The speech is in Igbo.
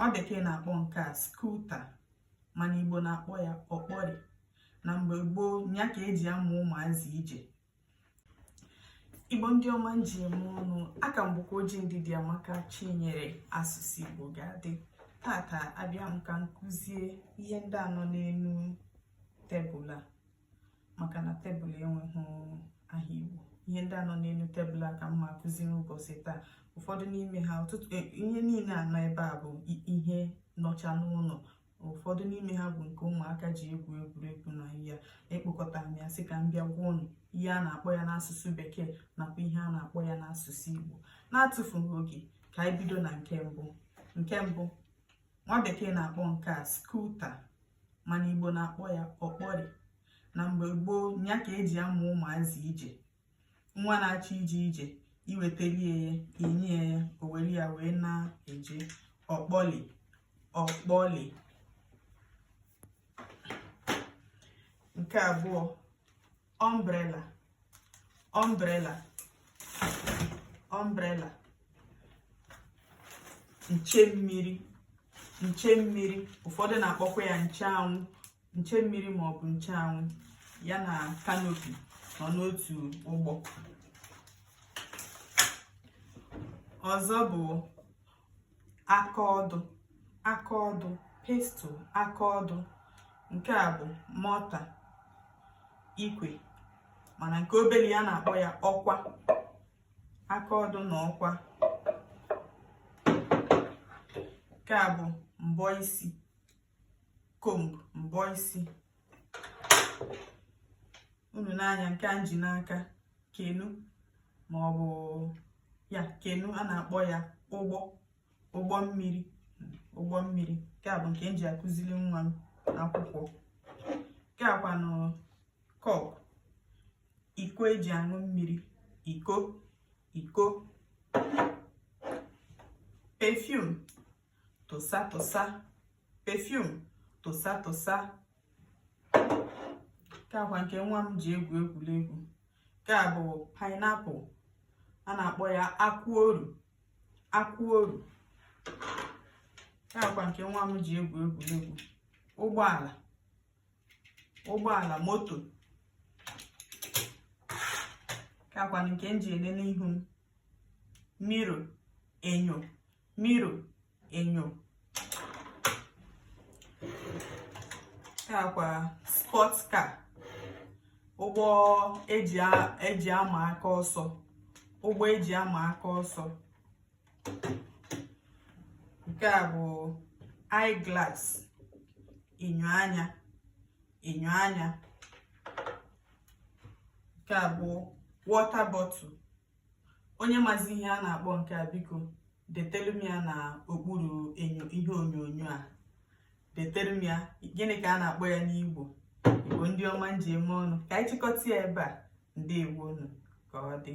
nwa bekee na-akpọ nke a scooter mana igbo na-akpọ ya ọkpọrị na mgbe gboo ya ka eji amụ ụmụazị ije igbo ndị ọma m ji eme ọnụ aha m bụkwa oji ndidiamaka chinyere asụsụ igbo ga-adị tata abịa m ka m kụzie ihe ndị a nọ n'elu tebụl a maka na tebụl enweghị aha Igbo ihe ndị a nọ n'elu tebụl a ka m ma akụzi n'ụbọchị taa ụfọdụ n'ime ha, ihe niile a nọ ebe a bụ ihe nọcha n'ụlọ ụfọdụ n'ime ha bụ nke ụmụaka ji egwu egwuregwu na ya ekpokọta m ya sị ka m bịa gwa unu ihe a na-akpọ ya n'asụsụ bekee nakwa ihe a na-akpọ ya n'asụsụ Igbo na-atụfughị oge ka anyị bido na nke mbụ nke mbụ nwa bekee na-akpọ nke a scooter mana igbo na-akpọ ya ọkpọrị na mgbe gboo ya ka eji amụ ụmụazị ije nwa na-achọ ije ije i wetelie ya i nye ya o were ya wee na-eje ọkpọli ọkpọli nke abụọ umbrella umbrella umbrella nche mmiri nche mmiri ụfọdụ na-akpọkwa ya nche anwụ nche mmiri ma ọ bụ nche anwụ ya na kanopi nọ n'otu ụgbọ ọzọ bụ aka ọdụ aka ọdụ pestle aka ọdụ nke a bụ mortar ikwe mana nke obere ya a na-akpọ ya ọkwa aka ọdụ na ọkwa nke a bụ mbọ isi comb mbọ isi unu nee anya nke a m ji n'aka canoe ma ọ bụ ya canoe a na-akpọ ya ụgbọ ụgbọ mmiri ụgbọ mmiri nke a bụ nke m ji akụziri nwa m akwụkwọ nke a kwanụ cup iko eji aṅụ mmiri iko iko perfume tụsa tụsa perfume tụsa tụsa nke a kwa nke nwa m ji egwu egwuregwu nke a bụ pineapple a na-akpọ ya akwụ oru akwụ oru nke a kwa nke nwa m ji egwu egwuregwu ụgbọala ụgbọala moto nke a kwa nke m ji elele ihu m mirror enyo mirror enyo nke a kwa sports car ụgbọ eji ama aka ọsọ ụgbọ eji ama aka ọsọ nke a bụ eyeglass enyo anya enyo anya nke a bụ water bottle onye mazi ihe a na-akpọ nke a biko detelu m ya na okpuru enyo ihe onyonyo a detere m ya gịnị ka a na-akpọ ya n'igbo igbo ndị ọma m ji eme ọnụ ka anyị chịkọta ya ebe a ndeewo nụ ka ọ dị